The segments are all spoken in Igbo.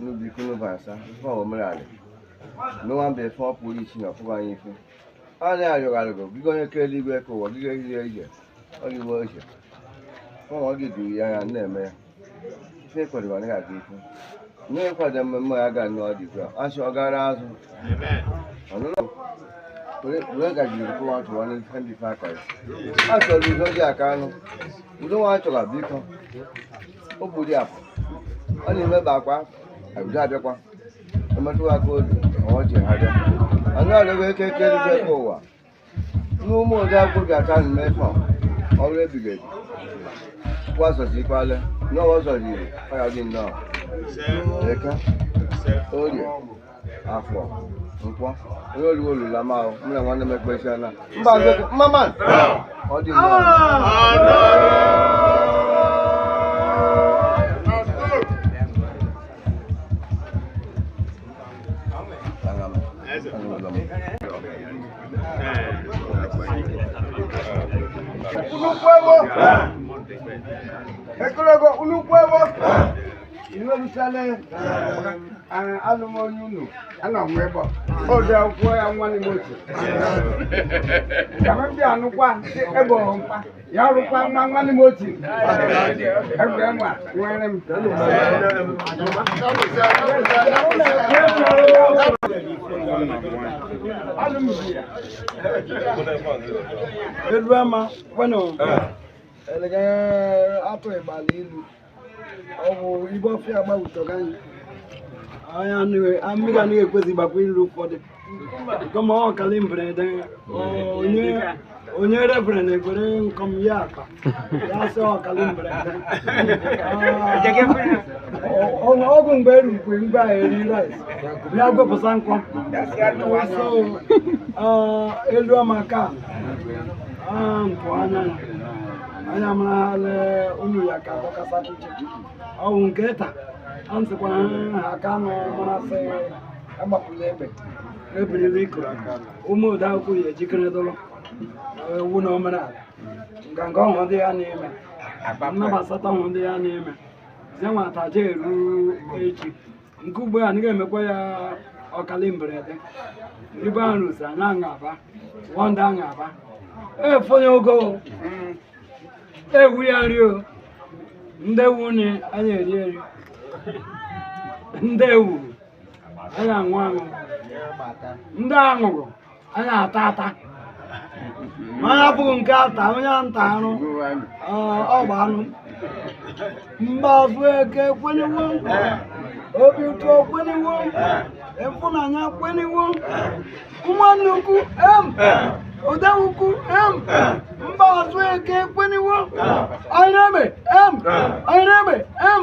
n'ubi ikunu bụ asa ife omerali n'ụwa mba efe ọ pụrụ ichi na ọ pụrụ anyị ife a na-arịọgharịgo biko onye kere eluigwe ka ụwa gị ga-ehihie ije ọ gị wee ije ụmụ ọ gị duru ya anya na-eme ya ife ekwadoro anaghị aga ife nne ịkwado mmemme ya ga nnọọ dị ugbu a asị ọ gara azụ ọnụnụ wee gajiri kụwa tụwa n'ife ndị fe akọrọ a chọrọ udo dị aka anụ udo nwa chọrọ biko o gburu ya afọ ọ na-emeba akwa abịa abịakwa emetụwa aka obi ma ọ ji ha bịa anyị arịọgo eke kere eluigwe ka ụwa n'ụmụ ode akwụkwọ ji aka nụ mee fọm ọrụ ebighị ebi kwa zọzi ikwale n'ọwa zọzi iri ọ ya dị nnọọ eke orie afọ nkwọ onye oliwo olula ma ahụ mụ na nwanne m ekpesi ana mba nzekọ mma man ọ dị mma Aga m- aga m- Unu kwewo? Ekologo, unu kwewo? iwerutele alụmonye unu ana m ebe ode akwụkwọ ya nwanne m otu ndị anụkwa ebe ọmpa ya rụkwa nwa nwanne m otu egwure nwa nwere m elu ama kwenu atụ ịgbala ilu ọ bụ ibe ọfịa gbawutọga anyị anyị anụghị- a- mmiri anaghị ekwezi gbakwa iru ụfọdụ nkọm ọ kalị mberede ọ- onye onye reverend ekwere nkọm ya akpa ya sị ọ kalị mberede Ọ- ọ- ọgwụ mgbe erukwe mgbe a eri rice bịa gwepụsa nkọ so ah, elu ama ka ah, mpụ anya ya anya marala unu ya ka dọkasa iche ọwụ nke ta a nsịkwa ha aka nọ marasị agbapụla egbe ebirila ikoro ụmụ ode akwụkwọ ya ejikere dụrụ ewu na omenala nganga ọhụrụ ndị ya na-eme nnabasata ọhụrụ ndị ya na-eme zenwata je eru echi nke ugbu a anyị ga-emekwa ya ọkalị mberede ibe ahụ rụzi anya aṅaba wọ ndị aṅaba efonye ogo ewu ya nri o ndị ewu nị anyị eri eri ndị ewu anyị aṅụ aṅụ ndị aṅụrụ anyị ata ata mana abụghị nke ata onye anyị tarụ ọ gba anụ mgbazụ eke kwenyewo obi ụtọ kwenyewo ịfụnanya kwenyewo ụmụnne ukwu em oda ukwu em mgbazụ eke kwenyewo anyị na-eme em anyị na-eme em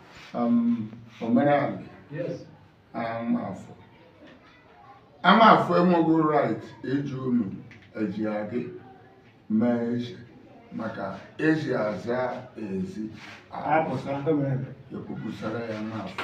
Um, omenala amafọ amafọ enweghị right eji unu eji adị mee eze maka ezi aza ezi ekwupụsara ya amafọ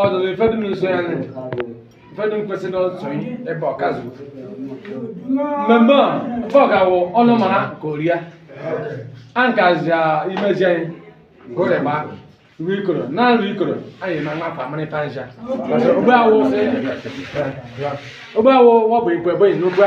ọdụdụ ifedu n'ụzọ ya nụ ifedu nkwesịrị ọtụtụ ihe ebe ọkazụ mmemme a ebe ọ ga-awụ ọnụ mara ka oria a nkazi imezi anyị ka o rịba ruo ikoro na nru ikoro anyị na nwa famịrị panja ogbe awụ ogbe awụ wọbụ ikwe bụ n'ogbe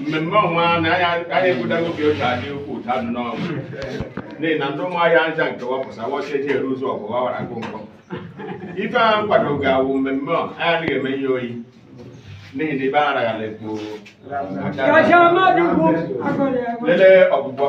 mmemme ọnwa na anya ekwudago oge oche adị ukwu ụta dị n'ọgụ n'ihi na ndị ụmụahịa nza nke wapụsa wọcha eji eru ụzọ ọgụ wawara agụ nkọ ife a nkwado ga-awụ mmemme ọ anyị adịghị eme ihe oyi n'ihi na ibe araghala ekpo lelee ọgwụgwọ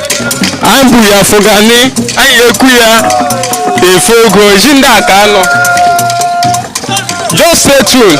anyị bu ya fụgani anyị ekwu ya efe ogo ji ndị akanụ just stay tuned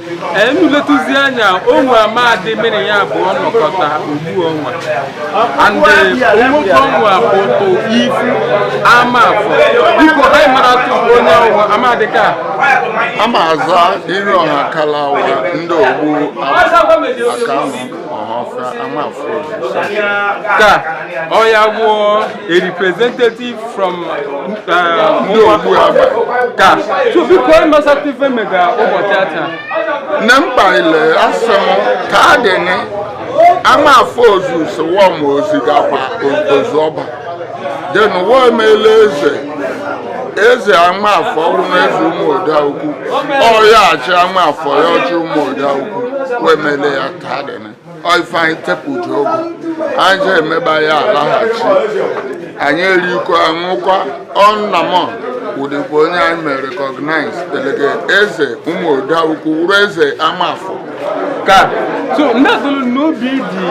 unu letụzi anya o nwe amadị mere ya bụ nnọkọta ugbu ọnwa and nwoke ọnwa bụ tụ ifu amafọ biko anyị maratụ onye ọ wụ amadị ka amaza iroha kalu awa ndị ogbu akanụ ọhafịa amafọ ka ọ ya wụọ a representative from ndị ogbu uh, Agba ka so biko anyị masatụ ife mega ụbọchị ata na mkpa ile asị m ka adịnị amafọ ozu sowa ma ozi gakwa ozu ọba then wọ emela eze eze amafọ ọhụrụ eze ụmụoda ukwu ọya achị amafọ ya ọchị ụmụoda ukwu wemele ya ka dị ife anyị tepụji ogo anyị ji emeba ya alaghachi anyị erikwa aṅụkwa ọnnamọ wụdịkwa onye anyị mere recognized elege eze ụmụoda ukwu wụrụ eze amafọ ka so ndị azụrụ n'obi dị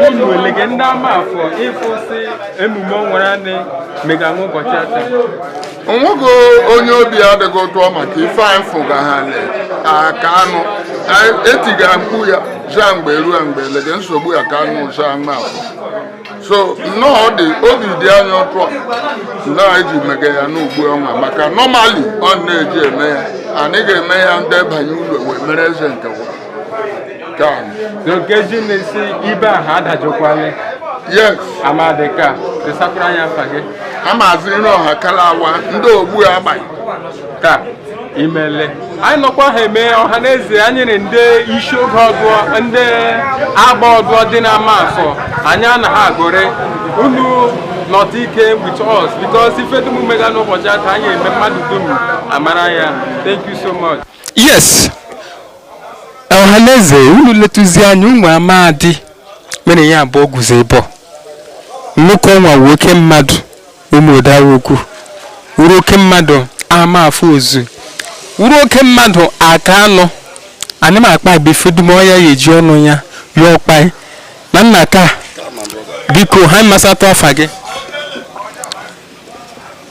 unu elege ndị amafọ ịfụsị emume ọnwara anị mega nwa ụbọchị ata onwego onye obi adịghị ụtọ maka ife anyị fụga ha Akanụ etiga mkpu ya zaa mgbe ruo mgbe lege nsogbu Akanụ zaa mma so nnọọ dị obi dị anyị ụtọ na eji mega ya n'ugbu ọnwa maka normally ọ na-eji eme ya anyị ga-eme ya ndebanye ụlọ wee mere eze nke ka nkeji na-esi ibe ahụ adajụkwala yes amadị ka ịsakwara anyị afa gị a maazị Iroha Kalu Awa ndị ogbu agba ka imele anyị nọkwa ha eme ọha na eze anyị na ndị isi ogo ọdụọ ndị agba ọdụọ dị na Amafọ anyị anaghị agụrị unu not ike with us because ife dum mega n'ụbọchị ata anyị eme mmadụ dum amara ya thank you so much yes ọhaneze unu letuzi anya ụmụ amadi mere ya abụọ guzo ibe nwoke ọnwa wụ oke mmadụ Ụmụda Ukwu wụrụ oke mmadụ Amafọ ozu wụrụ oke mmadụ Akanụ anyị ma akpabe ife dum ọya ya eji ọnụ ya ya akpa na nna ka biko ha masatụ afa gị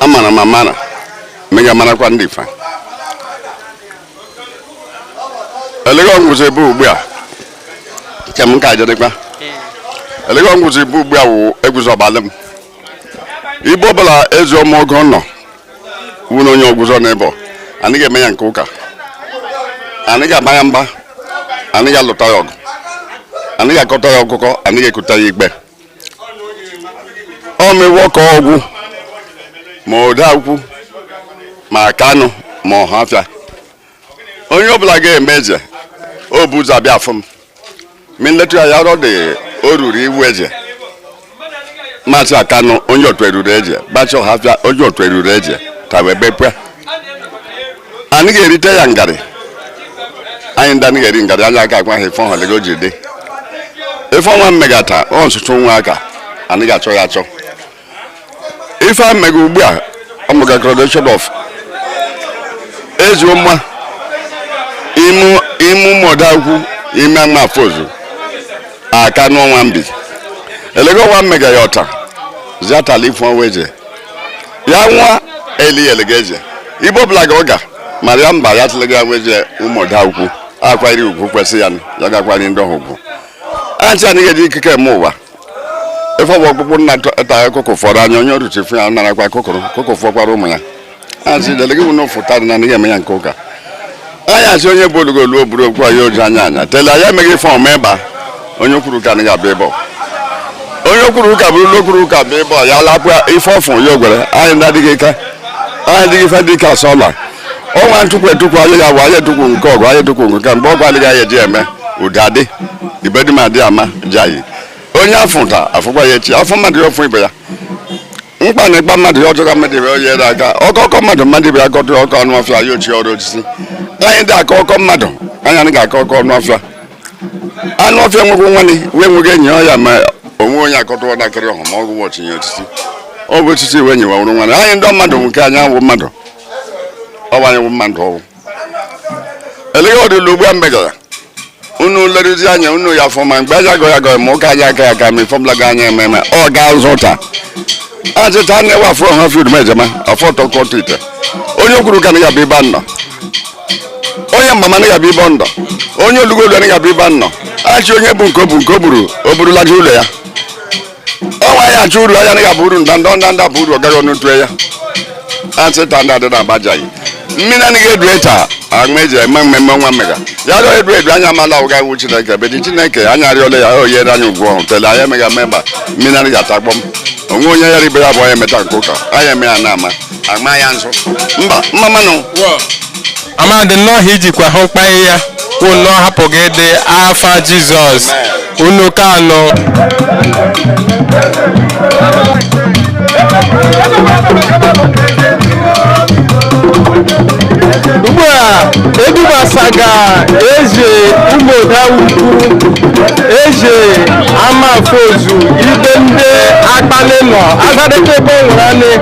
amara m amara mega marakwa ndị fa elege ọgwụzi ebe ugbu a nke m ka ajedịkwa elege ọgwụzi ebe ugbu a wụ egwuzi ọbalị m ibe ọbụla ezi ọma ogo nọ wụ na onye ọgwụzọ n'ebe anyị ga-eme ya nke ụka anyị ga-agba ya mba anyị ga-alụta ya ọgụ anyị ga-akọta ya ọkụkọ anyị ga-ekuta ya igbe ọ mewo ka ọgwụ Ụmụda Ukwu ma Akanụ ma ọhafịa onye ọbụla ga-eme eze o bu ụzọ abịa afụ m ma nletu ya yarọ dị o ruru ịwụ eze ma chịa Akanụ onye otu eruru eze ma chịa ọhafịa onye otu eruru eze tawa ebekwe anyị ga-erite ya ngarị anyị ndị anyị ga-eri ngarị anyị aka agwa ha ife ọha elege o ji dị ife ọnwa mmegata ọ nsụtụ nwa aka anyị ga-achọ ya achọ ife a m mega ugbu a ọmụga coronation of ezioma ime Ụmụda Ukwu ime Amafọ ozu Akanụ ọnwa mbe elege ọnwa mmega ya ọta ziatala ife ọnwa eje ya nwa eliyel ga-eje ibe ọbụla ga ọga mara ya mba ya tụlego ya nweje Ụmụda Ukwu akwanyere ugwu kwesị ya ya ga-akwanye ndị ọha ugwu achị anaghị eji ikike eme ụwa ife ọbụ ọkpụkpụ nna ta akụkụ fọrọ anya onye oruchi fụ ya narakwa kụkụrụ kụkụ fọkwara ụmụ ya achị delege bụ na ọ fụta dị na anaghị eme ya nke ụka anyị asị onye bụ olugolu o buru okwu anyị oji anya anya tele anyị emeghị ife ọma ịba onye kwuru ka na ya bụ ịbọ onye kwuru ụka bụrụ ụlọ kwuru ụka bụ ịbọ ya lapụa ife ọfụ ya ogwere anyị ndị adịghị ike anyị adịghị ife dị ka sọla ọnwa ntụkwu etukwu anyị ya bụ anyị etukwu nke ọgụ anyị etukwu nke mgbe ọgwụ adịghị anyị eji eme ụda dị ibedum adị ama ji anyị onye afụ ta afụkwa ya echi afọ mmadụ ya ọfụ ibe ya mkpa na-akpa mmadụ ya ọ jụọ mmadụ ibe ya ere aka ọkọ kọọ mmadụ mmadụ ibe ya kọtụ ọkọ anụ ọfịa ya o chie arụ osisi anyị dị akọ ọkọ mmadụ anyị anaghị akọ ọkọ anụ ọfịa anụ ọfịa nwekwa nwanne wee nweghị enyi ọya ma onwe onye akọtụwa nakịrị ọhụ ma ọgwụ o chie ya osisi ọ bụ osisi wụ enyi wa wụrụ nwanne anyị ndị mmadụ nke anyị awụ mmadụ ọ bụ anyị wụ mmadụ ọwụ elega ọdịla ugbu a megara unu leruzi anya unu ya fụ ma mgbe anyị agọ ya gọ ma ụka anyị aka ya aka ma ifọbụla gị anyị eme eme ọ ga-azụta achịcha na ewe afọ ha field ma ejema afọ tọkọtụ ite onye kwuru ka na ya bụ ibe nnọ onye mama na ya bụ ibe ndọ onye olugolu na ya bụ ibe nnọ achị onye bụ nke o bụ nke o buru o burulaja ụlọ ya ọnwa ya achọ uru anyị ga-abụ uru ndanda ndanda buru ọ gaghị ọnụ tue ya asị tanda dị na agbajaghị mmiri anaghị edu echa aṅụ eji eme mmemme nwa mmega ya rịọ edu edu anyị amala ụga iwu chineke bedi chineke anyị arịọla ya o nyere anyị ugwu ọhụ tele anyị emega memba mmiri anaghị atakpọm onwe onye ya ribe ya bụ onye meta nke ụka anyị eme ya na-ama agma ya nzụ mba mma mmanụ amadi nnọọ ha ijikwa hụ mkpanye ya kwụ nnọọ hapụ gị dị afa jizọs unu ka anọ ugbu a edubasaga eze ụmụọda ukwu eze amafozu ibe ndị akpali nọ agadịkebe nwere anị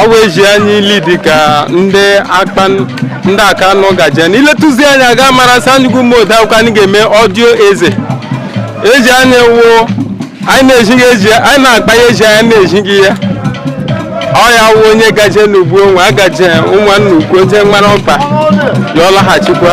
ọ bụ eji anyị ili dịka ndị akpa ndị aka nọ gaje na iletụzi anyị a ga-amara sị anyị wụ ụmụọda ukwu anyị ga-eme ọdio eze eji anyị wụ anyị na-ejighị eji anyị na-akpa ya eji anyị na-ejighị ya ọ ya wụ onye gaje n'ugwu onwe agaje ụmụnna ukwu o je mara ọkpa ya ọ laghachikwa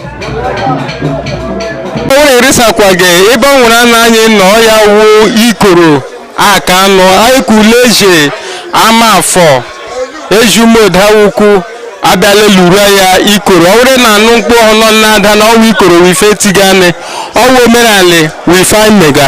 onye erisakwaghị ebe o nwere ana anyị nọ ya wuo ikoro aka anụ aịkuleje ama afọ ejumodawukwu abịala lura ya ikoro ọ bụrụ na a nụ mkpu ọ nọ na-ada na ọ wụ ikoro wụ ife tigani ọ wụ omenala wụ ife anyị mega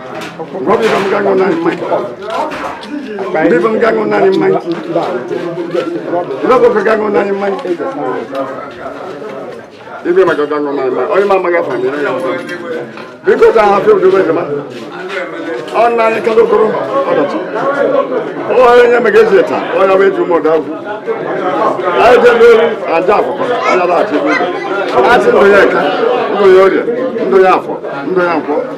Robi wam gango nani mai. Bi wam gango nani mai. Robo ka gango nani mai. Ibe ma ka gango nani mai. Oyi ma ma ga fami na ya. Bi ko ta ha fi ojo be ma. On nani ka do koro. Odo ti. O ya nya me ge se ta. O ya be ju mo da ku. Ai je be ri aja ko. Ala ba ti bi. Ati lo ye ka. Ndo yo ye. Ndo ya fo. Ndo ya fo.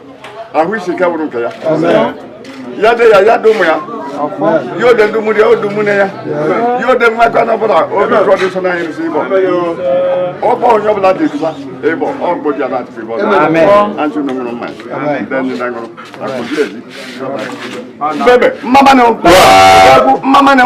ahụ isi ike bụrụ nke ya ya dị ya ya dị ụmụ ya ya ọ dị ndị mmiri ya ọ dị ụmụnne ya ya ọ dị mmadụ ọ bụla obi ụjọ dị so na anyị rụsi ịbọ ọkpọ onye ọbụla dị ịbụsa ịbọ ọ mgbe ji ala atịpụ ịbọ antị unu ṅụrụ mmanya ndị ndị na ṅụrụ akụzi ezi bebe mma mma nụ mma mma nụ